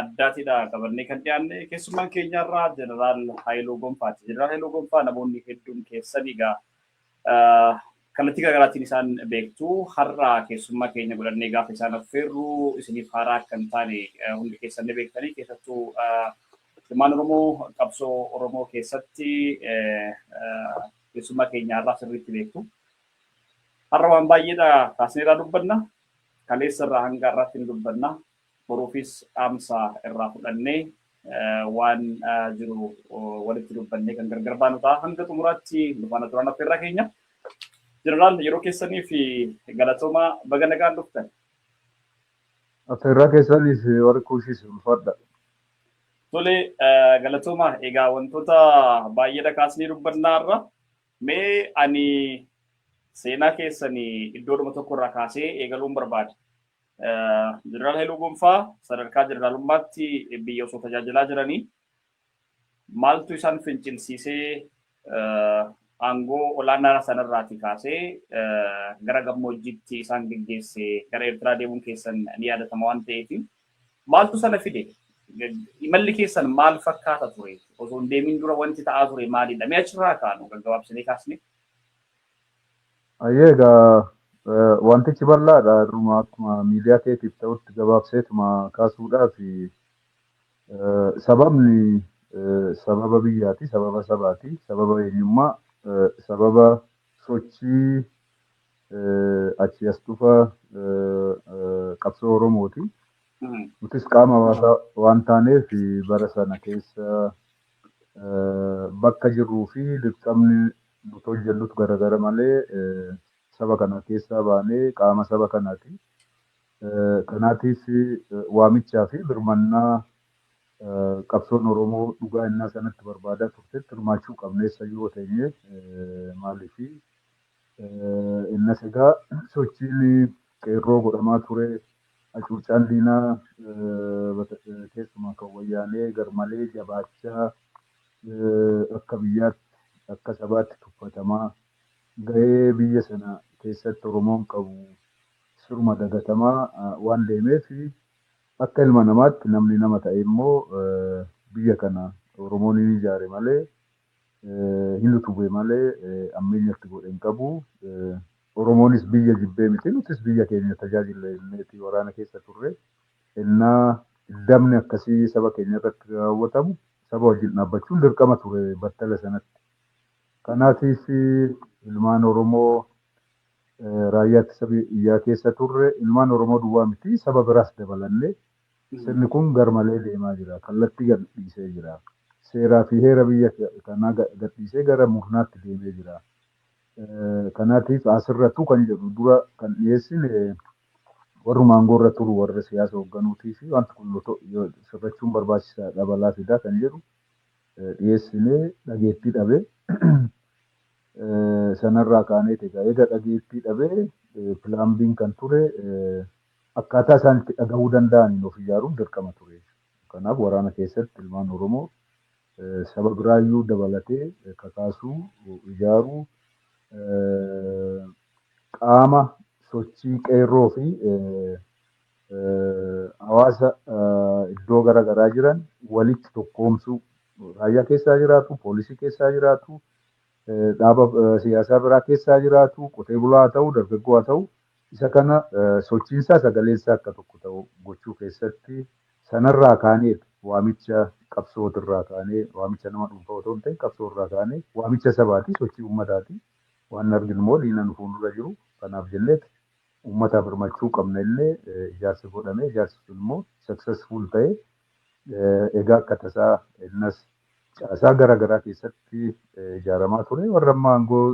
addaatidha qabannee kan dhiyaanne keessummaan keenya irraa jeneraal Haayiluu Gonfaati. Jeneraal Haayiluu Gonfaa namoonni hedduun keessan egaa kallattii garaagaraatiin isaan beektu har'a keessummaa keenya godhannee gaafa isaan affeerru isiniif haaraa akka hin taane hundi keessan ni beektanii keessattuu ilmaan Oromoo qabsoo Oromoo keessatti keessummaa keenya har'aa sirriitti beektu. Har'a waan baay'eedha kaasneerraa dubbanna. Kaleessa irraa hanga har'aatti ni dubbanna. boruufis dhaamsa irraa fudhannee waan jiru walitti dubbannee kan gargar baanu ta'a. Hanga xumuraatti nu faana turaan affeerraa keenya. Jeneraal yeroo keessanii fi galatoomaa baga nagaan dhuftan. Affeerraa keessaniif warri kuushis ulfaadha. Tole galatoomaa egaa wantoota baay'eedha kaasnee dubbannaa irra mee ani seenaa keessanii iddoodhuma tokko irraa kaasee eegaluun barbaada. Jeneraal Hailuu Gonfaa sadarkaa jeneraalummaatti biyya osoo tajaajilaa jiranii maaltu isaan fincilsiisee aangoo olaanaa sanarraatii kaasee gara gammoojjiitti isaan geggeesse gara Eertiraa deemuun keessan ni yaadatama waan ta'eef maaltu sana fide? Imalli keessan maal fakkaata ture? Osoo hin deemin dura wanti ta'aa ture maalidha? Mee achirraa kaanu gaggabaabsinee kaasne. Hayyee egaa wantichi bal'aadha har'uma akkuma miidiyaa keetiif ta'utti gabaabseetuma kaasuudhaaf sababni sababa biyyaati sababa sabaati sababa eenyummaa sababa sochii achii as dhufa qabsoo oromooti nutis qaama hawaasaa waan taaneef bara sana keessa bakka jirruu fi dirqamni nuti hojjannut garagara malee saba kanaa keessaa baanee qaama saba kanaati. Kanaatiif waamichaa fi birmannaa qabsoon Oromoo dhugaa ennaa sanatti barbaadaa turtetti hirmaachuu qabna eessayyuu yoo teenye maaliifi ennas egaa sochiin qeerroo godhamaa ture acuuccaan diinaa keessumaa kan wayyaanee garmalee jabaachaa akka biyyaatti, akka sabaatti tuffatamaa, gahee biyya sana keessatti Oromoon qabu siruma dagatamaa waan deemeef, akka ilma namaatti namni nama ta'ee immoo biyya kana Oromoon hin ijaare malee, hin utube malee ammeenya itti godhe hin qabu. Oromoonis biyya jibbee miti, nutis biyya keenya tajaajilla jenneeti waraana keessa turre. Ennaa diddamni akkasii saba keenya irratti raawwatamu saba wajjin dhaabbachuun dirqama ture battala sanatti. Kanaatiif ilmaan Oromoo raayyaa ittisa biyyaa keessa turre ilmaan Oromoo duwwaa miti saba biraas dabalannee sirni kun garmalee deemaa jira. Kallattii gadhiisee jira. Seeraa fi heera biyya kanaa gadhiisee gara murnaatti deemee jira. Kanaatiif asirrattu kan jedhu dura kan dhiyeessine Warruma aangoorra turu, warra siyaasa hoogganuutiif wanti kun sirrachuun barbaachisaadha, balaa fida kan jedhu dhiyeessine dhageettii dhabe. Sanarraa kaaneeti egaa eega dhageettii dhabe Plan B'n kan ture akkaataa isaan itti dhagahuu danda'aniin of ijaaruun dirqama ture. Kanaaf waraana keessatti ilmaan Oromoo saba biraayyuu dabalatee kakaasuu, ijaaruu, qaama sochii qeerroo fi hawaasa iddoo gara garaa jiran walitti tokkoomsuu, raayyaa keessaa jiraatu, poolisii keessaa jiraatu, dhaaba siyaasaa biraa keessaa jiraatu, qotee bulaa haa ta'u, dargaggoo haa ta'u, Isa kana sochiinsaa sagaleessaa akka tokko ta'u gochuu keessatti sanarraa kaaneet waamicha qabsootirraa kaanee waamicha nama dhuunfaa otoo hin ta'in qabsoorraa kaanee waamicha sabaati, sochii ummataati waan arginummoo diina nu fuuldura jiru kanaaf jenneet ummataaf hirmachuu qabna jennee ijaarsa godhame ijaarsi sunimmoo successful ta'e egaa akka tasaa innas caasaa gara garaa keessatti ijaaramaa ture warra amma aangoo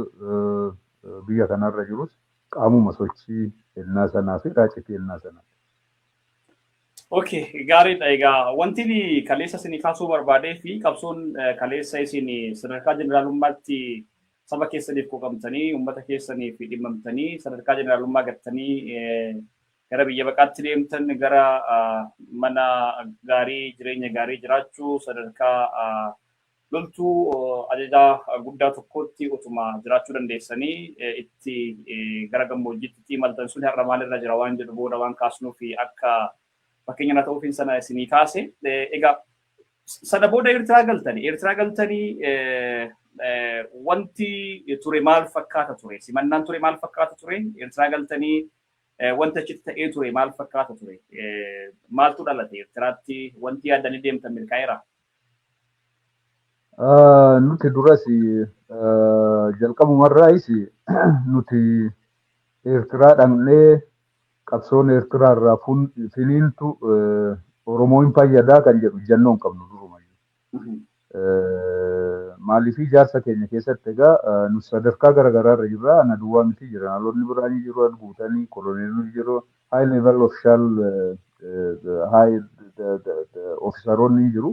biyya kanarra jirus Qaamuma sochii ennaa sanaa fi raacitii ennaa sanaa. Ok gaariidha egaa wantin kaleessa isinii kaasuu barbaadee fi qabsoon kaleessa isin sadarkaa jeneraalummaatti saba keessaniif quuqamtanii uummata keessaniif dhimmamtanii sadarkaa jeneraalummaa gattanii gara biyya baqaatti deemtan gara mana gaarii jireenya gaarii jiraachuu sadarkaa Loltuu ajajaa guddaa tokkootti utuma jiraachuu dandeessanii itti gara gammoojjiitti itti imaltan sun har'a maalirra jira waan jedhu booda waan kaasnuuf akka fakkeenya na ta'uufiin sana isinii kaase. Egaa sana booda Eertiraa galtanii Eertiraa galtanii wanti ture maal fakkaata ture? Simannaan ture maal fakkaata ture? Eertiraa galtanii wanti achitti ta'ee ture maal fakkaata ture? Maaltu dhalate Eertiraatti wanti yaadanii deemtan milkaa'eera? Nuti duras jalqabumarraayis nuti Eertiraa dhaqnee qabsoon Eertiraa irraa finiintu Oromoo hin fayyadaa kan jedhu ejjennoo hin qabnu durumayyuu. Maaliif ijaarsa keenya keessatti egaa nu sadarkaa garaagaraarra jirra. Ana duwwaa miti jeneraalonni biraa ni jiru, guutanii koloneelonni jiru, high level official high ofisaroonni hin jiru.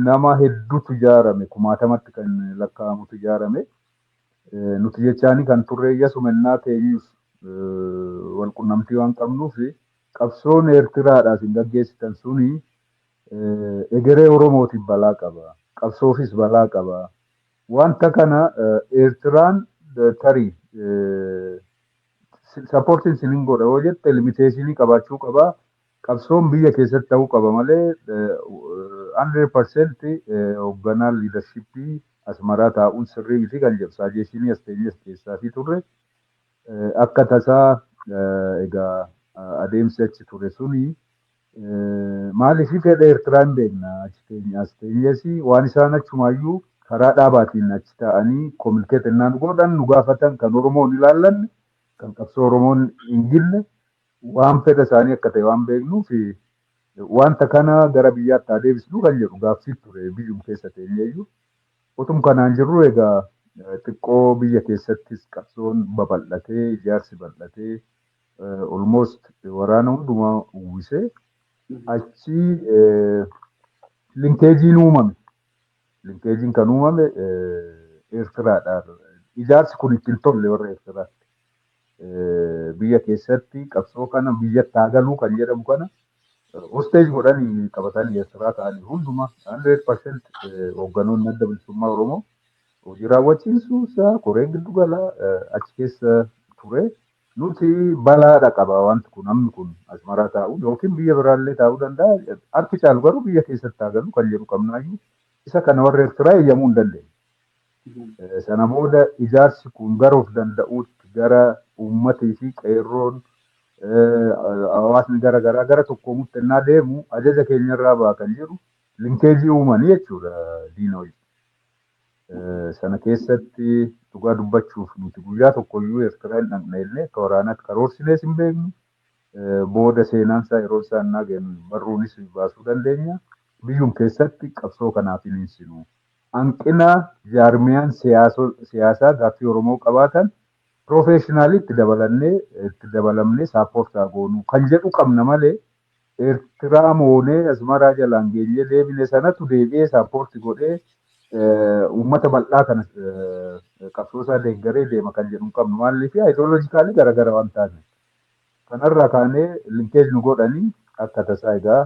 Nama hedduutu ijaarame kumaatamatti kan lakkaa'amutu ijaarame. Nuti jechaanii kan turre iyyasu mennaa teenyus wal qunnamtii waan qabnuuf qabsoon Eertiraadhaas hin gaggeessitan suni egeree Oromootiif balaa qaba. Qabsoofis balaa qaba. Wanta kana Eertiraan tarii supportin sinin godha yoo jette limiteeshinii qabaachuu qaba. Qabsoon biyya keessatti ta'uu qaba malee 100% hoogganaa liidarshippii Asmaraa taa'uun sirrii miti kan jedhu saajeeshinii as teenyee as dhiyeessaafii turre. Akka tasaa egaa adeemsi achi ture suni Maaliif fedha Eertiraa hin beekna achi teenye as teenyes waan isaan achumaayyuu karaa dhaabaatiin achi taa'anii kominikeet ennaan godhan nu gaafatan kan Oromoo hin ilaallanne kan qabsoo Oromoon hin gille waan fedha isaanii akka ta'e waan beeknuuf wanta kana gara biyyaatti haa deebisnu kan jedhu gaaffii ture biyyum keessa teenyeeyyuu utum kanaan jirru egaa xiqqoo biyya keessattis qabsoon babal'atee ijaarsi bal'atee eh, almost waraana hundumaa uwwisee achi eh, linkeejiin uumame. Linkeejiin kan uumame eh, Eertiraadha. Ijaarsi kun itti hin tolle warra Eertiraatti. Eh, Biyya keessatti qabsoo kana biyyatti haa galuu kan jedhamu kana hosteej godhanii qabatan Eertiraa ta'anii hundumaa 100% hoogganoonni adda bilisummaa Oromoo hojii raawwachiisuu isaa koreen giddu galaa eh, achi keessa ture Nuti balaa dhaqaba wanti kun namni kun Asmaraa taa'uun yookiin biyya biraallee taa'uu danda'a harki caalu garuu biyya keessatti haa galu kan jedhu qabnaayyuu isa kana warri Ertiraa eeyyamuu hin dandeenye. Eh, Sana booda ijaarsi kun gara of danda'uutti gara uummatii fi qeerroon eh, hawaasni gara garaa gara tokkoomutti ennaa deemu ajaja keenyarraa ba'a kan jedhu linkeejii uumanii jechuudha diina wajjin. Sana keessatti dhugaa dubbachuuf nuti guyyaa tokkoyyuu Eertiraa hin dhaqne illee akka waraanaatti karoorsinees hin beeknu. Booda seenaan isaa yeroo isaa innaa geenyu barruunis baasuu dandeenya. Biyyum keessatti qabsoo kanaaf hin hinsinu. Hanqina jaarmiyaan siyaasaa gaaffii Oromoo qabaatan piroofeeshinaalii itti dabalannee itti dabalamnee saappoortaa goonuu kan jedhu qabna malee Ertiraa moonee Asmaraa jalaan geenyee deebine sanatu deebi'ee saappoorti godhee uummata bal'aa kana qabsoosaa deeggaree deema kan jedhu hin qabnu. Maaliif ayidooloojikaalii garaagara waan taaneef. Kanarraa kaanee linkeej nu godhanii akka tasaa egaa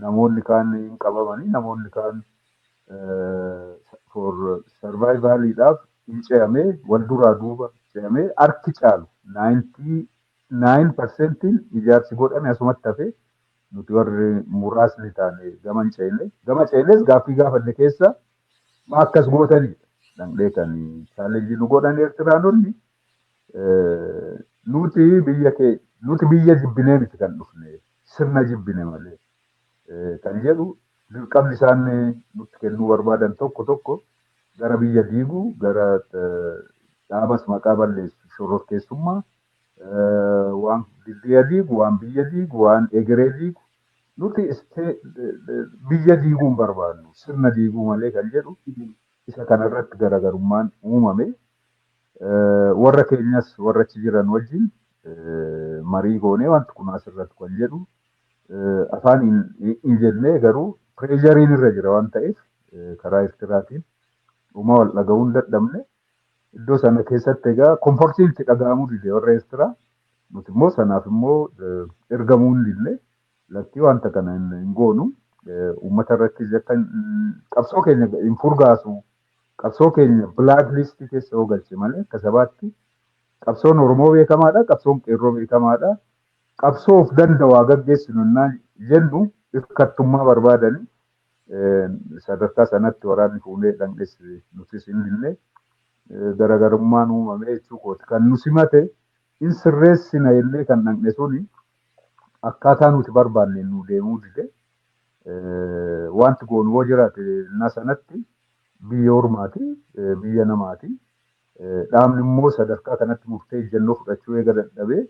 namoonni kaan hin qabamanii namoonni kaan for sarvaayivaaliidhaaf hin ce'amee wal duraa duuba ce'amee harki caalu 90 Naayin parsentiin ijaarsi godhame asumatti hafe, nuti warri muraasni taane gama hin ceene. Gama ceenes gaaffii gaafanne keessaa maa akkas gootani dhaqnee kan challenge nu godhan Eertiraanonni nuti biyya kee nuti biyya jibbinee miti kan dhufne sirna jibbine malee. kan jedhu dirqamni isaan nutti kennuu barbaadan tokko tokko gara biyya diiguu gara dhaabas maqaa balleessu shororkeessummaa waan diddeeya diigu waan biyya diigu waan egeree diigu nuti biyya diiguu hin barbaannu sirna diiguu malee kan jedhu isa kanarratti garaagarummaan uumame warra keenyas warra achi jiran wajjin marii goonee wanti kun asirratti kan jedhu afaan hin jennee garuu pireeshariin irra jira waan ta'eef karaa Eertiraatiin dhuma wal dhaga'uu hin dadhabne. Iddoo sana keessatti egaa komfortiin itti dhaga'amuu dide warra Eertiraa. Nuti immoo sanaaf immoo ergamuu hin didne. Lakkii wanta kana hin goonu. Uummata irrattis akka qabsoo keenya hin furgaasu. Qabsoo keenya bilaak liistii keessa yoo galche malee akka sabaatti qabsoon Oromoo beekamaadha. Qabsoon qeerroo beekamaadha. Qabsoo of dandawaa gaggeessinu ennaa jennu irkattummaa barbaadani. Sadarkaa sanatti waraanni fuunee dhandhes nutis hin dinne. Garagarummaan uumamee jechuu kooti. Kan nu simate in sirreessina jennee kan dhandhe suni akkaataa nuti barbaanneen nuu deemuu dide. Wanti goonu yoo jiraate ennaa sanatti biyya ormaati, biyya namaati. Dhaabni immoo sadarkaa kanatti murtee ejjennoo fudhachuu eega dadhabee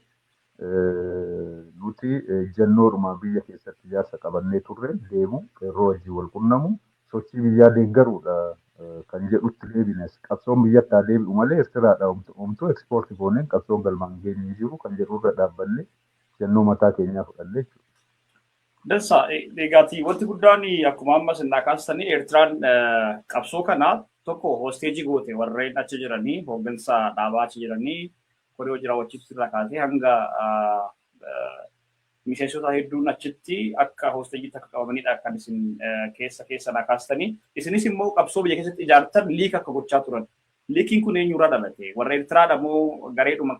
Nuti ejjennoodhuma biyya keessatti ijaarsa qabannee turre deemu, qeerroo wajjin wal qunnamu, sochii biyyaa deeggaruudha kan jedhutti deebines. Qabsoon biyyatti haa deebi'u malee Ertiraadhaa homtuu export gooneen qabsoon galmaan hin geenye hin jiru kan jedhu irra dhaabbannee ejjennoo mataa keenyaa fudhanne jechuudha. Dansa. Egaati wanti guddaan akkuma amma isin naa kaastanii Ertiraan qabsoo kana tokko hostage goote warreen achi jiranii hooggansa dhaabaa achi jiranii Koree hojii raawwachiiftuu irraa kaasee hanga miseensota hedduun achitti akka hoosteejiitti akka qabamanidha kan isin keessa keessa naa kaastanii. Isinis immoo qabsoo biyya keessatti ijaartan liik akka gochaa turan. Liikiin kun eenyurraa dhalate? Warra Ertiraadha moo gareedhuma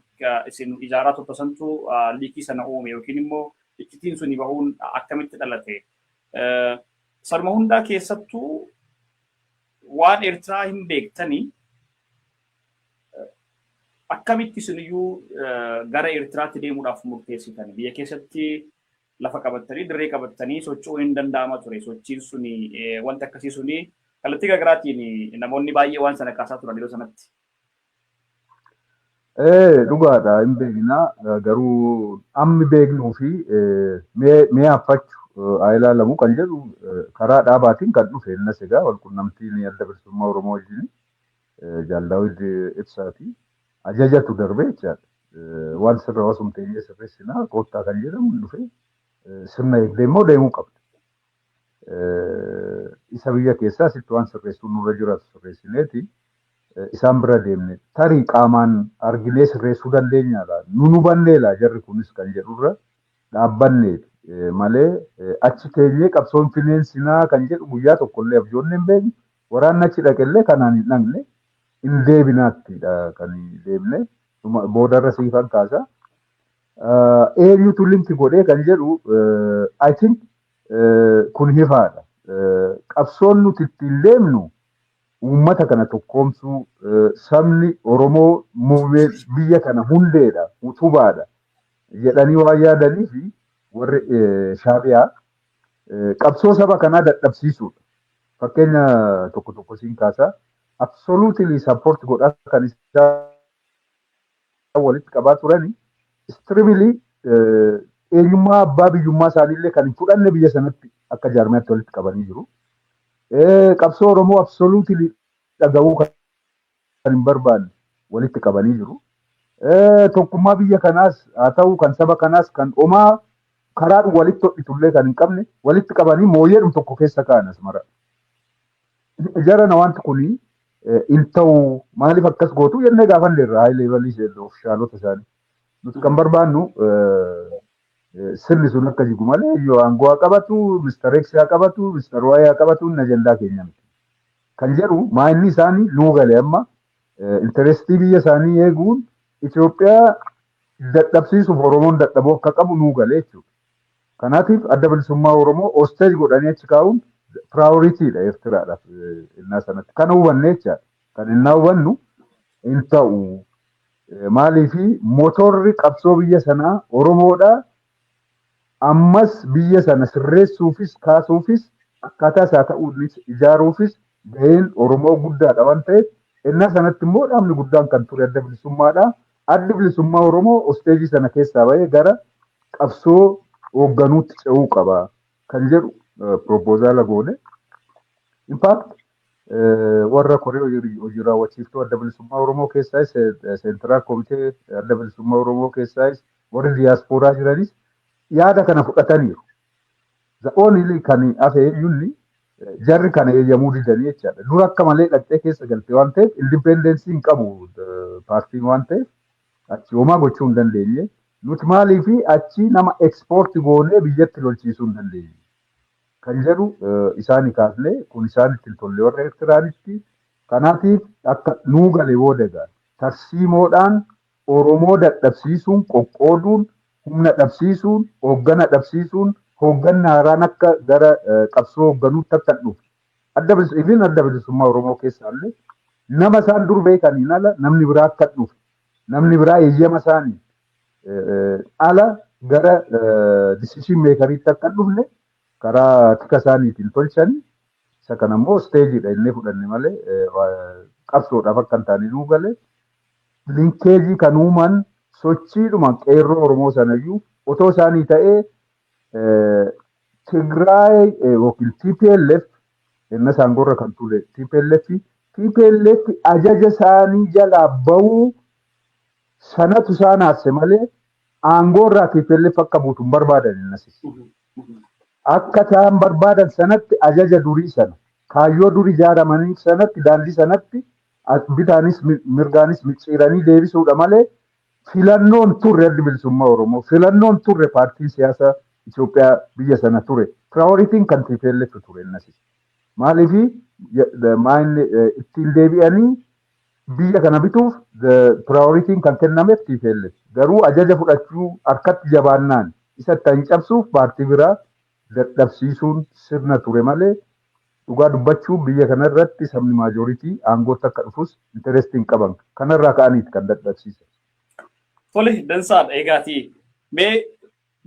isin ijaaraa turte santu liikii sana uume yookiin immoo iccitiin suni bahuun akkamitti dhalate? Sanuma hundaa keessattuu waan Ertiraa hin beektanii Akkamitti isin iyyuu gara Eertiraatti deemuudhaaf murteessitan? Biyya keessatti lafa qabattanii, dirree qabattanii socho'uun hin danda'ama ture. Sochiin suni, wanti akkasii suni kallattii garaagaraatiin namoonni baay'ee waan sana kaasaa turan yeroo sanatti. Ee dhugaadha hin beekna garuu ammi beeknuu fi mee affachu haa ilaalamu kan jedhu karaa dhaabaatiin kan dhufe innas egaa walqunnamtiin adda bilisummaa Oromoo wajjin Jaal Daawid Ibsaati. Ajajatu darbe jechaadha. Waan sirra osoo teenyee sirreessinaa koottaa kan jedhamu hin dhufee sirna eegdee immoo deemuu qabda. Isa biyya keessaa sitti waan sirreessuun nurra jiraatu sirreessineeti isaan bira deemne tarii qaamaan arginee sirreessuu dandeenya laa nu nu bannee laa jarri kunis kan jedhurra dhaabbanneeti malee achi teenyee qabsoon fineensinaa kan jedhu guyyaa tokkollee abjoonni hin beeknu Waraanni achi dhaqellee kanaan hin dhaqne hin deebinaattidha kan deemne dhuma- boodarra siifan kaasa. Ah, Eenyutu linki godhee kan jedhu eh, I think eh, kun hifaadha. Eh, Qabsoon nuti ittiin deemnu uummata kana tokkoomsuu eh, sabni Oromoo muummee biyya kana hundeedha, utubaadha jedhanii waan yaadanii fi warri eh, shaabiyaa Qabsoo saba kanaa dadhabsiisuudha. Fakkeenya tokko tokko siin kaasaa. Absolutely support godhaa kan isaa walitti qabaa turani. Extremely eenyummaa abbaa biyyummaa isaaniillee kan hin fudhanne biyya sanatti akka jaarmiyaatti walitti qabanii jiru. Qabsoo Oromoo absolutely dhaga'uu kan kan hin barbaanne walitti qabanii jiru. Tokkummaa biyya kanaas haa ta'u kan saba kanaas kan omaa karaadhu walitti hodhitullee kan hin qabne walitti qabanii mooyyeedhum tokko keessa ka'an asmara. Jarana wanti kun hin ta'u maaliif akkas gootu jennee gaafanne irraa haayilee balii seerri ofishaalota isaanii. Nuti kan barbaannu sirni sun akka jigu malee yoo aangoo haa qabatu, Mr. X haa qabatu, Mr. Y haa qabatu inni ajandaa keenya miti. Kan jedhu maayinni isaanii nuu gale amma intarestii biyya isaanii eeguun Itoophiyaa dadhabsiisuuf Oromoon dadhabuu akka qabu nuu gale jechuudha. Kanaatiif adda bilisummaa Oromoo osteej godhanii achi kaa'uun piraayoriitiidha Eertiraadhaaf innaa sanatti. Kana hubannee jechaadha. Kan innaa hubannu hin ta'u. Maaliif motorri qabsoo biyya sanaa Oromoodha. Ammas biyya sana sirreessuufis kaasuufis akkaataa isaa ta'uunis ijaaruufis gaheen Oromoo guddaadha waan ta'eef ennaa sanatti immoo dhaabni guddaan kan ture adda bilisummaadha. Addi bilisummaa Oromoo osteejii sana keessaa ba'ee gara qabsoo hoogganuutti ce'uu qaba kan jedhu piroopoozaala goone. Infaakti warra koree hojii raawwachiiftuu adda bilisummaa Oromoo keessaayis seentiraal komitee adda bilisummaa Oromoo keessaayis Warri diyaaspooraa jiranis yaada kana fudhataniiru. The only kan hafe eenyunni jarri kana eeyyamuu didanii jechaadha. Dura akka malee dhaqxee keessa galte waan ta'eef indipeendeensii hin qabu eh, paartiin waan ta'eef achi homaa gochuu hin dandeenye. Nuti maaliif achi nama ekspoorti goonee biyyatti lolchiisuu hin dandeenye. kan jedhu eh, isaani kaasne kun isaanitti hin tolle warra Eertiraanitti. Kanaatiif akka nuu gale booda egaa tarsiimoodhaan Oromoo dadhabsiisuun, qoqqooduun, humna dhabsiisuun, hooggana dhabsiisuun, hoogganni haaraan akka gara qabsoo hoogganuutti akka hin dhufne, Adda Bilis-, even Adda Bilisummaa Oromoo keessaallee nama isaan dur beekaniin ala namni biraa akka hin dhufne, namni biraa eeyyama isaaniin eh, ala gara decision makeriitti akka hin dhufne karaa tika isaaniitiin tolchanii isa kana immoo isteejiidha innee fudhanne malee eh, waa- qabsoodhaaf akka hin taane nuu galee liikeejii kan uuman sochiidhuma qeerroo Oromoo sanayyuu otoo isaanii ta'ee Tigraay yookiin TPLF inni saangoorra kan ture TPLF TPLF ajaja isaanii jalaa ba'uu sanatu isaan haasse malee aangoorraa TPLF akka buutu hin barbaadan innasis. Akka isaan barbaadan sanatti ajaja durii sana kaayyoo durii ijaaramanii sanatti daandii sanatti As bitaanis mi- mirgaanis micciiranii deebisuudha malee filannoon turre addi bilisummaa Oromoo filannoon turre paartiin siyaasa Itoophiyaa biyya sana ture piraayoritiin kan TPLF ture innasis maaliif maayin ittiin deebi'anii biyya kana bituuf piraayoritiin kan kennameef TPLF garuu ajaja fudhachuu harkatti jabaannaan isa itti hin cabsuuf paartii biraa dadhabsiisuun sirna ture malee dhugaa dubbachuuf biyya kana irratti sabni majority aangootti akka dhufus interest hin qaban. Kana irraa ka'aniiti kan dadhabsiisan. Tole dansaadha eegaati mee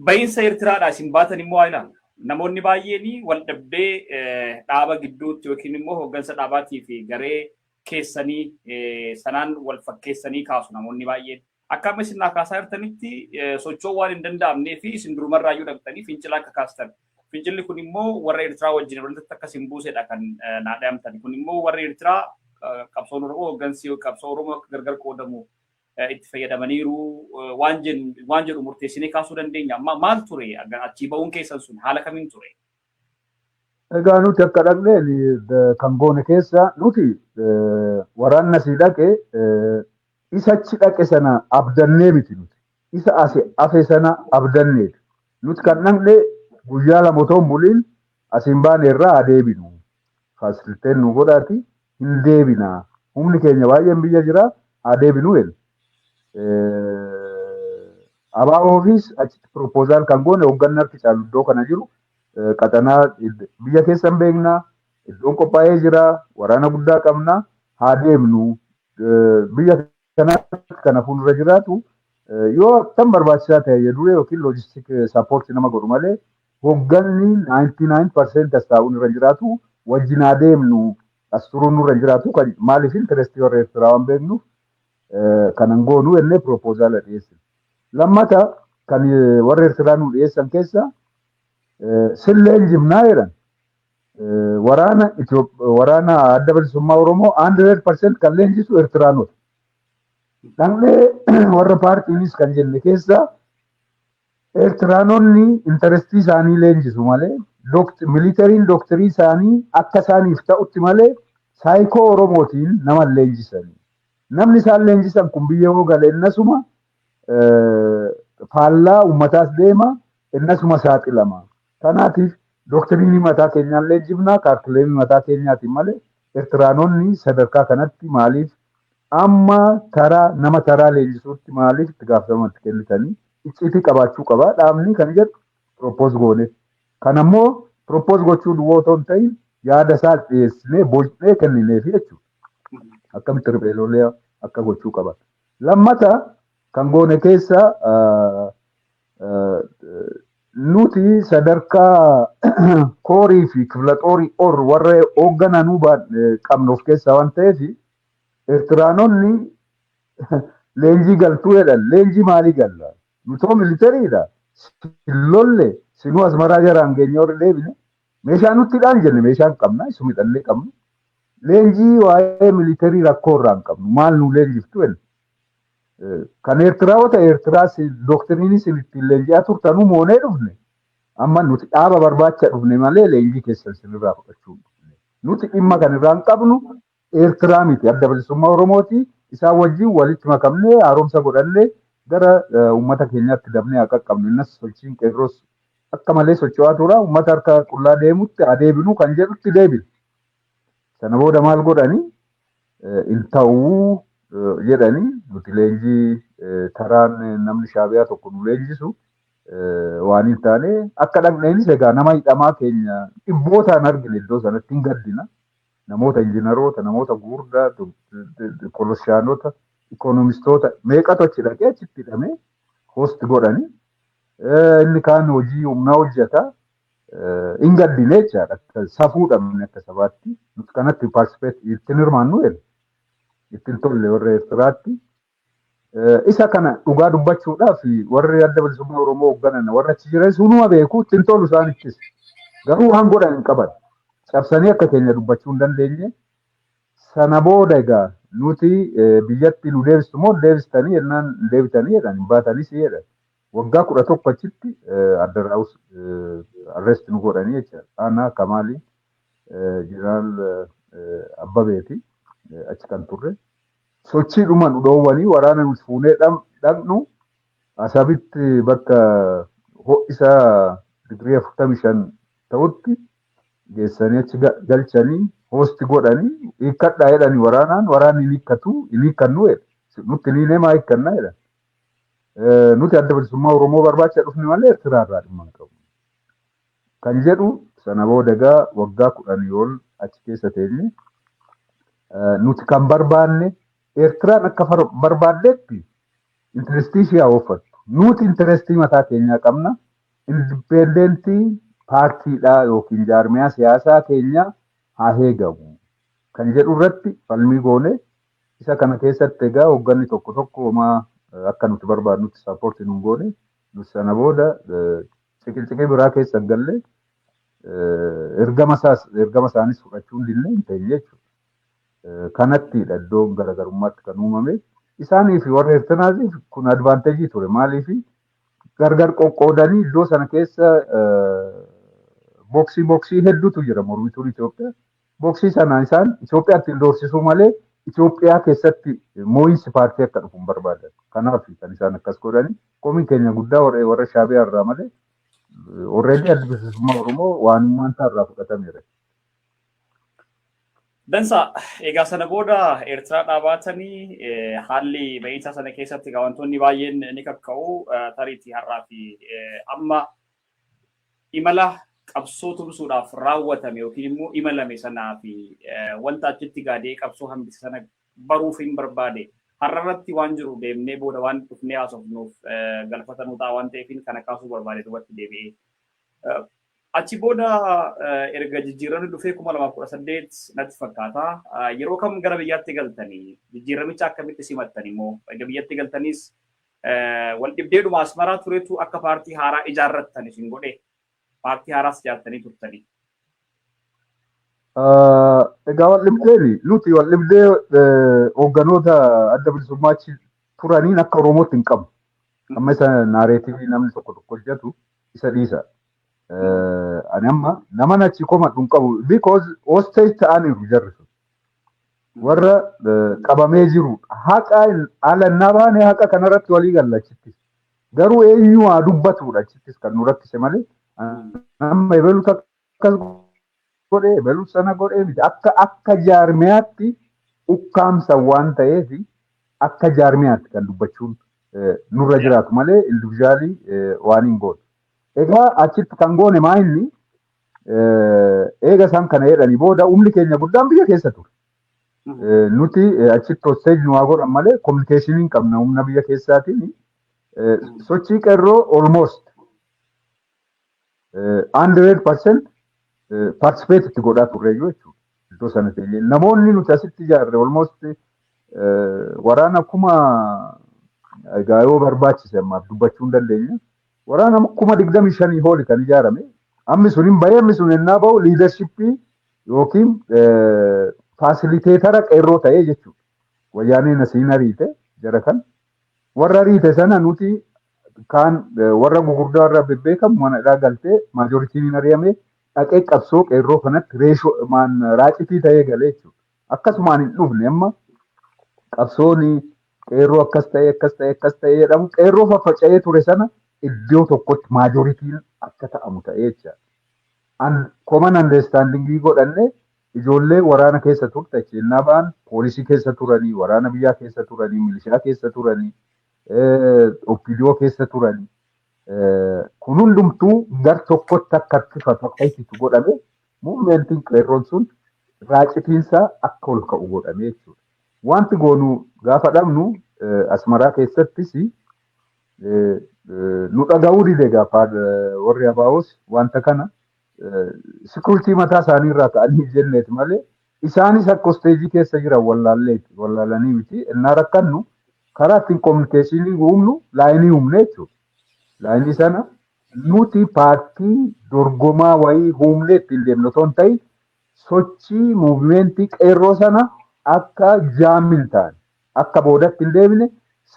bahiinsa Eertiraadhaa isin baatan immoo haa ilaalu. Namoonni baay'een wal dhabdee dhaaba gidduutti yookiin immoo hooggansa dhaabaatii fi garee keessanii sanaan wal fakkeessanii kaasu namoonni baay'een. Akka amma isin naa kaasaa jirtanitti socho'uu waan hin danda'amnee fi isin durumarraa iyyuu dhaqxanii fincila akka kaastan. Fincilli kun immoo warra Eertiraa wajjin walitti akka isin buusedha kan naa dhayamtan. Kun immoo warri Eertiraa qabsoon Oromoo hooggansi qabsoo Oromoo akka gargar qoodamu itti fayyadamaniiru waan jedhu murteessinee kaasuu dandeenya. Maal ture achii ba'uun keessan sun haala kamiin ture? Egaa nuti akka dhaqneen kan goone keessa nuti waraanna sii dhaqe Isa achi dhaqe sana abdannee miti nuti. Isa asi afe sana abdanneeti. Nuti kan dhaqne guyyaa lama otoo hin buliin asiin baane irraa haa deebinu. Faasiliteen nu godhaati hin deebina. Humni keenya baay'een biyya jira haa deebinu jedhe. Abaaboofis achitti piroopozaal kan goone hoogganni harki caalu iddoo kana jiru qaxanaa biyya keessan beekna iddoon qophaa'ee jira waraana guddaa qabna haa deemnu biyya kanaatti kana fuuldura jiraatu yoo akkam barbaachisaa ta'e ya duree yookiin loojistik sappoorti nama godhu malee hogganni 99% as taa'uun irra jiraatu wajjin haa deemnu as turuun nurra jiraatu kan maaliif intirestii warra Eertiraa waan beeknuuf kanan goonu jennee piroopozaala dhiyeessine. Lammata kan warra Eertiraa nu dhiyeessan keessa silleen jimnaa jedhan waraana waraana adda bilisummaa Oromoo 100% kan leenjisu Ertiraanota. Dhaqnee warra paartiinis kan jenne keessaa Ertiraanonni intarestii isaanii leenjisu malee militariin dooktarii isaanii akka isaaniif ta'utti malee saayikoo Oromootiin nama leenjisanii. Namni isaan leenjisan kun biyya yoo gale innasuma faallaa uummataas deema innasuma saaxilama. Kanaatiif doktiriinii mataa keenyaallee jibnaa kaarkileemii mataa keenyaatiin malee Ertiraanonni sadarkaa kanatti maaliif amma taraa nama taraa leenjisuutti maaliif itti gaafatama itti kennitanii icciitii qabaachuu qaba dhaabni kan jedhu pirooppoos goone. Kan ammoo pirooppoos gochuu duwwaa otoo hin ta'in yaada isaa dhiyeessinee bocnee kennineefi jechuudha. Akkamitti riphee lolee akka gochuu qaban. Lammata kan goone keessa nuti sadarkaa koorii fi kifilaxoorii or warra hooggananuu qabnu of keessaa waan ta'eef Eertiraanonni leenjii galtuu jedhan leenjii maalii galla? Nutoo militariidha. Sin lolle sinuu asmaraa jaraan geenye warri deebine Meeshaa nutti hidhaan jenne meeshaa hin qabna isuma hidhannee qabnu. Leenjii waa'ee militarii rakkoo irraa hin qabnu maal nu leenjiftu jenne. Eh, Kan Eertiraa wata Eertiraa doktiriinii sin ittiin leenji'aa turtanuu moonee dhufne. Amma nuti dhaaba barbaacha dhufne malee leenjii keessan sinirraa fudhachuu hin dhufne. Nuti dhimma kan irraa hin qabnu Eertiraa miti adda bilisummaa Oromooti. Isaan wajjin walitti makamnee haaromsa godhannee gara uummata keenyaatti dabnee haa qaqqabnu. Innas sochiin qeerroos akka malee socho'aa tura. Uummata harka qullaa deemutti haa deebinu kan jedhutti deebine. Sana booda maal godhani? Hin ta'uu jedhani nuti leenjii taraan namni shaabiyaa tokko nu leenjisu waan hin taane akka dhaqneenis egaa nama hidhamaa keenya dhibbootaan argine iddoo sanatti hin gaddina. namoota injinaroota, namoota guurdaa, polosiyaanota, ikoonomistoota meeqatu achi dhaqee achitti hidhamee host godhani. Inni kaan hojii humnaa hojjeta. Hin gaddine jechaadha. Safuu dhabne akka sabaatti. Nuti kanatti paartisipeet ittiin hirmaannu jedhe. Ittiin tolle warra Eertiraatti. Isa kana dhugaa dubbachuudhaaf warri adda bilisummaa Oromoo hoogganan warra achi jiran sunuma beeku ittiin tolu isaanittis. Garuu waan godhan hin qaban. Cabsanii akka keenya dubbachuu hin dandeenye. Sana booda egaa nuti biyyatti nu deebistu moo deebistanii jennaan deebitanii jedhan hin baatanis jedhan. Waggaa kudha tokko achitti adda raawus arrest nu godhanii jecha. Ana Kamaali Jeneraal Abbabeeti achi kan turre. Sochiidhuma nu dhoowwanii waraana nuti fuunee dhaqnu Asabitti bakka ho'isa digirii afurtamii shan ta'utti geessanii achi galchanii hoosti godhanii hiikkadhaa jedhani waraanaan waraanni hin hiikkatu hin hiikkannu jedhe nutti hin hiinee maa hiikkanna jedhan. Nuti adda bilisummaa Oromoo barbaacha dhufne malee Ertiraa irraa dhimma hin qabnu. Kan jedhu sana booda egaa waggaa kudhanii ol achi keessa teenye. Nuti kan barbaanne Eertiraan akka barbaaddetti intirestii ishee haa ooffattu. Nuti intirestii mataa keenyaa qabna. Indipeendentii paartiidhaa yookiin jaarmiyaa siyaasaa keenyaa haa heegamu. Kan jedhu irratti falmii goone isa kana keessatti egaa hoogganni tokko tokko homaa akka nuti barbaadnutti sappoorti nun goone. Sana booda ciqilciqii biraa keessa hin galle ergama isaas ergama isaanis fudhachuu hin dinne hin teenye jechuudha. Kanattidha iddoon garaagarummaatti kan uumame. Isaanii fi warra Eertiraatiif kun advaanteejii ture. Maaliif gargar qoqqoodanii iddoo sana keessa booksii booksii hedduutu jira mormituun Itoophiyaa. Boksii sana isaan Itoophiyaatti hin doorsisuu malee Itoophiyaa keessatti moo'insi paartii akka dhufu hin barbaadan. Kanaaf kan isaan akkas godhani. Komiin keenya guddaa warra warra Shaabiyaa irraa malee already adda bilisummaa Oromoo waanummaan isaa irraa fudhatameera. Dansa egaa sana booda Eertiraa dhaabaatanii eh, haalli ba'iinsaa sana keessatti egaa wantoonni baay'een ni kakka'u eh, tariitii har'aa fi eh, amma imala qabsoo tumsuudhaaf raawwatame yookiin immoo imalame sanaa fi wanta achitti gaadee qabsoo hambise sana baruuf hin barbaade. Har'a irratti waan jiru deemnee booda waan dhufnee haasofnuuf galfata nu ta'a waan ta'eef kana kaasuu barbaade duubatti deebi'ee. Achi booda erga jijjiiramni dhufee kuma lamaaf kudha saddeet natti fakkaata. Yeroo kam gara biyyaatti galtanii jijjiiramicha akkamitti simattan immoo erga biyyatti galtaniis Waldhibdeedhuma Asmaraa turetu akka paartii haaraa ijaarrattan isin godhee? Paartii haaraas ijaartanii turtanii? Egaa waldhibdeen nuti waldhibdee hoogganoota adda bilisummaa achi turaniin akka Oromootti hin qabnu. Amma isa naareetivii namni tokko tokko hojjetu isa dhiisa. Ani amma naman achi komadhu hin qabu because hostage ta'aniiru jarri sun. warra eh, qabamee jiru haqa ala innaa baane haqa kanarratti walii galla achittis garuu eenyu haa dubbatuudha achittis kan nu rakkise malee amma ebalu akkas godhe ebalu sana godhe miti akka akka jaarmiyaatti ukkaamsa waan ta'eef akka jaarmiyaatti kan dubbachuun eh, nurra jiraatu malee individuaalii waan hin goone. Egaa achitti kan goone maa inni Eega isaan kana jedhanii booda humni keenya guddaan biyya keessa ture. Nuti achitti hosteeji nu haa godhan malee kominikeeshinii hin qabna humna biyya keessaatiin sochii qeerroo almost 100 percent participate itti godhaa turre jechuudha. Iddoo sana ta'e namoonni nuti asitti ijaarre almost waraana kuma egaa yoo barbaachise ammaaf dubbachuu hin dandeenye. Waraana kuma 25 hooli kan ijaarame ammi sun hin bahee ammi sun ennaa bahu liidarshippii yookiin faasiliteetara qeerroo ta'ee jechuudha. Wayyaaneen asiin ariite jara kan warra ariite sana nuti kaan warra gugurdaa warra bebbeekamu mana hidhaa galtee maajoritiin hin ari'ame dhaqee qabsoo qeerroo kanatti reeshoo raacitii ta'ee galee jechuudha. akkasumaan hin dhufne amma qabsoon qeerroo akkas ta'ee akkas ta'ee akkas ta'ee jedhamu qeerroo faffaca'ee ture sana iddoo tokkotti maajoritiin akka ta'amu ta'ee jecha. An koman andeestaandingii godhanne ijoollee waraana keessa turte kennaa ba'an poolisii keessa turanii waraana biyyaa keessa turanii milishaa keessa turanii oppidiyoo keessa turanii kun hundumtuu gar tokkotti akka harkifatu akka ittitu godhame Muuvimentiin qeerroon sun raacitiinsaa akka ol ka'u godhamee jechuudha. Wanti goonu gaafa dhabnu Asmaraa keessattis nu dhaga'uu dide gaafa warri Abaa'oos wanta kana sikuritii mataa isaanii irraa ta'anii jenneet malee isaanis akka hosteejii keessa jiran wallaalleeti wallaalanii miti innaa rakkannu karaa ittiin kominikeeshinii uumnu laayinii uumne jechuudha. Laayinii sana Nuti paartii dorgomaa wayii huumnee ittiin deemnu otoo hin ta'in sochii muuvimeentii qeerroo sana akka jaam hin taane akka boodatti hin deebine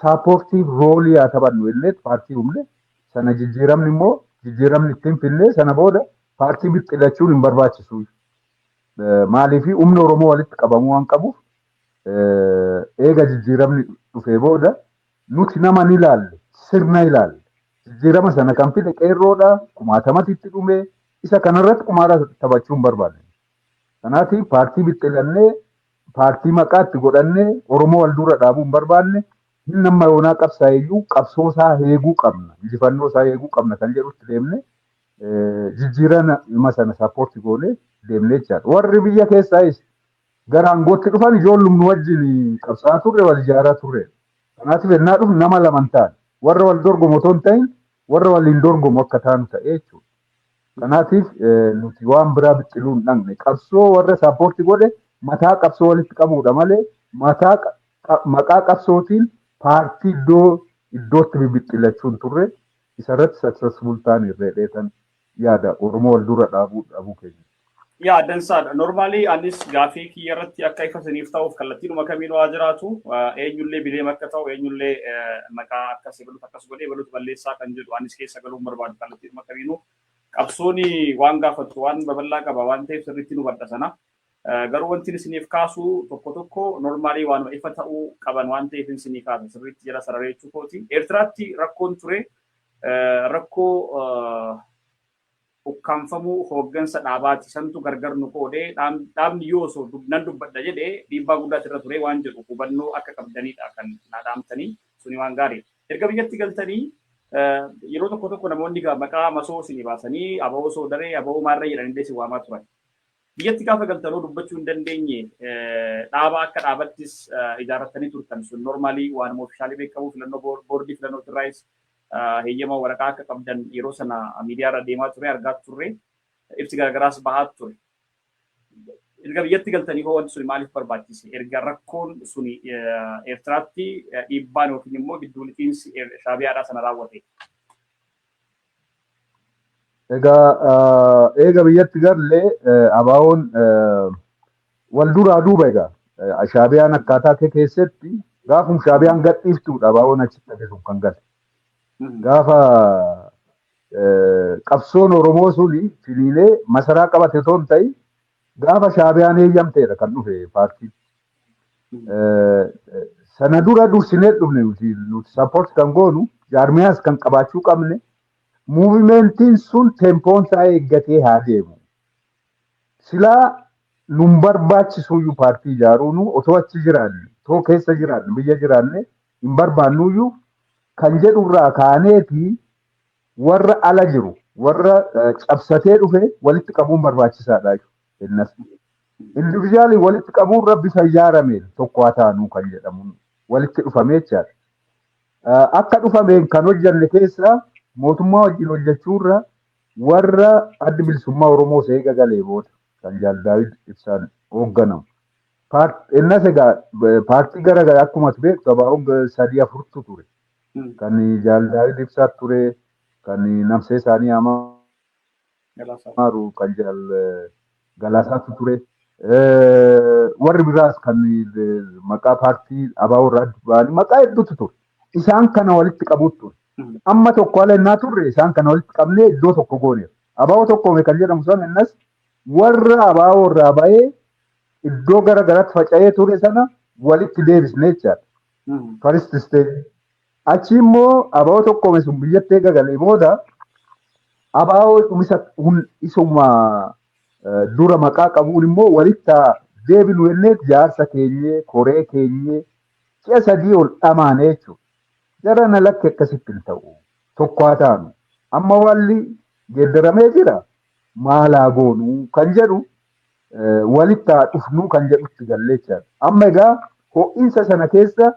saapoortiif roolii haa taphannu jenneet paartii humne sana jijjiiramni immoo jijjiiramni ittiin finnee sana booda paartii bixxilachuun hin barbaachisu maaliif humni Oromoo walitti qabamuu waan qabuuf eega jijjiiramni dhufee booda Nuti nama hin ilaalle, sirna ilaalla. Jijjiirama sana kan fide qeerroodha, kumaatamatu itti dhume, isa kanarratti qumaara taphachuu hin barbaanne. Kanaatiif paartii bixxilannee, paartii maqaa itti godhannee Oromoo wal dura dhaabuu hin barbaanne, hin amma yoonaa qabsaa'e iyyuu qabsoo isaa eeguu qabna, injifannoo isaa eeguu qabna kan jedhutti deemne jijjiirama sana sappoorti goone deemne jechaadha. Warri biyya keessaayis gara aangootti dhufan ijoollum nu wajjin qabsaa'aa turre, wal ijaaraa turreedha. Kanaatiif ennaa dhufnu nama laman taane. Warra wal dorgomu otoo hin ta'in warra waliin dorgomu akka taanu ta'e jechuudha. Kanaatiif nuti waan biraa bixxiluu hin dhaqne. Qabsoo warra saappoorti godhe mataa qabsoo walitti qabuudha malee mataa maqaa qabsootiin paartii iddoo iddootti bibixxillachuu hin turre. Isarratti successful taane irreedheetan yaada Oromoo wal dura dhaabuu dhabuu keenya. Yaa dansaadha. Normally anis gaafii kiyya irratti akka ifa isiniif ta'uuf kallattiidhuma kamiinuu haa jiraatu eenyullee bileem akka ta'u eenyullee maqaa akkas ebalutu akkas godhee ebalutu balleessaa kan jedhu anis keessa galuu hin barbaadu kallattiidhuma kamiinuu qabsoon waan gaafattu waan babal'aa qaba waan ta'eef sirriitti nu badha sana. Garuu wanti isiniif kaasu tokko tokko normaalii waanuma ifa ta'uu qaban waan ta'eef isinii kaasa sirriitti jala sararee jechuu kooti. Eertiraatti rakkoon ture Rakkoo ukkaamfamuu hooggansa dhaabaati. Santu gargar nu qoode. Dhaabni yoo osoo nan dubbadha jedhe dhiibbaa guddaatu irra ture waan jedhu hubannoo akka qabdanidha kan naa dhaamtanii. Suni waan gaariidha. Erga biyyatti galtanii yeroo tokko tokko namoonni maqaa masoo isinii baasanii, Abawoo Soodaree, Abawoo Maarree jedhanillee isin waamaa turan. Biyyatti gaafa galtan hoo dubbachuu hin dandeenye dhaaba akka dhaabattis ijaarrattanii turtan sun normaalii waanuma ofishaalii beekamu filannoo boordii filannoo irraayis heeyyama waraqaa akka qabdan yeroo sana miidiyaa irra deemaa ture argaa turre ibsi garaagaraas bahaa ture. Erga biyyatti galtanii hoo wanti suni maaliif barbaachise? Erga rakkoon suni Eertiraatti dhiibbaan yookiin immoo gidduu liqiinsi Shaabiyaadhaa sana raawwate. Egaa eega biyyatti galle abaawoon wal duraa duuba egaa shaabiyaan akkaataa kee keessatti gaafum shaabiyaan gadhiiftuudha abaawoon achitti hafe sun kan gale. Gaafa qabsoon Oromoo suni filiilee masaraa qabate osoo hin ta'in Gaafa shaabiyaan eeyyamteedha kan dhufe paartiin. Sana dura dursinee dhufne nuti nuti sappoorti kan goonu jaarmiyaas kan qabaachuu qabne muuvimentiin sun tempoon isaa eeggatee haa deemu. Silaa nun barbaachisuyyuu paartii ijaaruunu otoo achi jiraanne otoo keessa jiraanne biyya jiraanne hin barbaannuyyuu kan jedhurraa kaaneeti warra ala jiru warra eh, cabsatee dhufe walitti qabuun barbaachisaadha innas individually walitti qabuun rabbi fayyaarame tokko haa taanu kan jedhamu walitti dhufamee jechaadha. Eh, Akka dhufameen kan hojjanne keessaa mootummaa wajjin hojjechuurra warra addi bilisummaa Oromoo seega galee booda kan Jaal Daawid ibsaan hoogganamu. Paart- Innas egaa eh, paartii gara garaa akkuma ture gabaa'oon sadii afurtu ture. kan Jaal Daawit Ibsaa ture, kan nabsee isaanii amaaru kan Jaal Galaasaatu ture. Warri biraas kan maqaa paartii ABO irraa adda ba'anii maqaa hedduutu ture. Isaan kana walitti qabuutu ture. Amma tokko ala innaa turre isaan kana walitti qabnee iddoo tokko gooneera. ABO tokkoome kan jedhamu sana innas warra ABO irraa ba'ee iddoo gara garaatti faca'ee ture sana walitti deebisne jechaadha. First step. Achi immoo abaa'oo tokkoome sun biyyatti eega galee booda abaa'oo dhumisa hun- isuma eh, dura maqaa qabuun immoo walitti haa deebinu jennee jaarsa keenyee koree keenyee si'a sadii ol dhamaanee jechuudha. Jara na lakki akkasitti hin ta'u. Tokko haa taanu. Amma waalli geeddaramee jira. Maal haa goonu kan jedhu walitti haa dhufnuu kan jedhutti gallee jechaadha. Amma egaa ho'insa sana keessa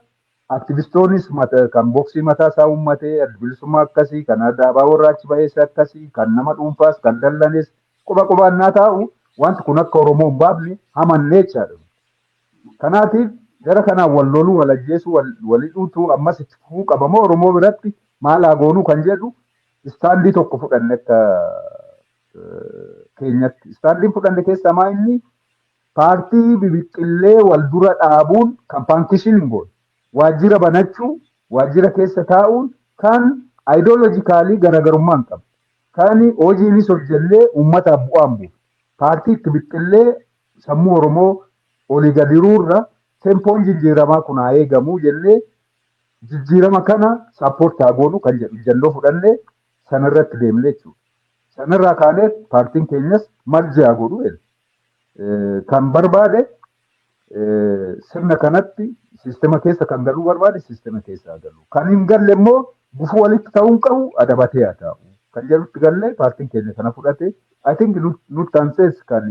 aktivistoonis kan boksii mataa isaa uummatee bilisummaa akkasii kan dhaabaa warra achi bahees akkasii kan nama dhuunfaas kan dallanes quba qubaan naa taa'u wanti kun akka Oromoo hin baafne hamannee jechaadha. Kanaatiif gara kanaan wal loluu wal ajjeesuu wal hidhuutu ammas itti fufuu qabamoo Oromoo biratti maal haa goonuu kan jedhu istaandii tokko fudhanne akka keenyatti. Istaandiin fudhanne keessaa maa inni paartii bibixxillee wal dura dhaabuun kan faankishiniin goone. Waajjira banachuu, waajjira keessa taa'uun kan ayidoolojikaalii garaagarummaa hin qabne. Kan hojiinis hojjennee uummataaf bu'aan buufne. Paartii itti bixxillee sammuu Oromoo olii gadiruurra tempoon jijjiiramaa kun haa eegamu jennee jijjiirama kana saappoorti haa goonu kan jedhu ijjannoo fudhannee Sanarratti deemne jechuudha. Sanarraa kaanee paartiin keenyas mal ji'a godhu jedhe. Eh, Kan barbaade eh, sirna kanatti siistema keessa kan galuu barbaade siistema keessa haa galu. Kan hin galle immoo gufuu walitti ta'uu hin qabu adabatee haa ta'u. Kan jedhutti gallee paartiin keenya kana fudhate. I think nut- nutti aansees kan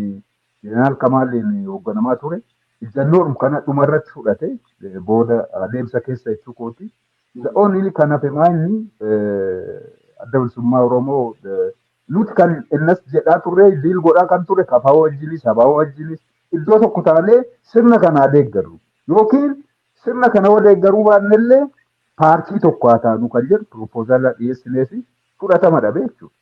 Jeneraal Kamaaliin hoogganamaa ture. Ijjannoodhum kana dhumarratti fudhate eh, booda adeemsa keessa jechuu kooti. The only kan hafe maanyi adda bilisummaa Oromoo nuti kan innas jedhaa turre diil godhaa kan turre kafaa wajjinis sabaa wajjinis iddoo tokko taanee sirna kanaa deeggarru yookiin sirna kana yoo deeggaruu baannellee paartii tokko haa taanu kan jedhu piroopoozaalaa dhiyeessinee fi fudhatama dhabe jechuudha.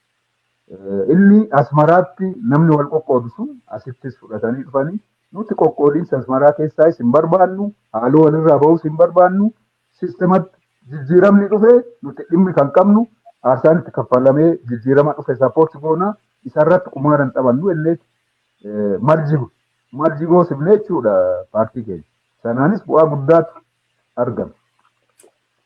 Inni asmaraatti namni wal qoqqoodu sun asittis fudhatanii dhufanii nuti qoqqoodiinsa asmaraa keessaayis hin barbaannu haaloo walirraa bahus hin barbaannu systematti jijjiiramni dhufe nuti dhimmi kan qabnu aarsaan itti kaffalamee jijjiirama dhufe support goona isarratti qumaara hin taphannu jennee eh, marji marji goosifne jechuudha paartii keenya. Sanaanis bu'aa guddaatu argame.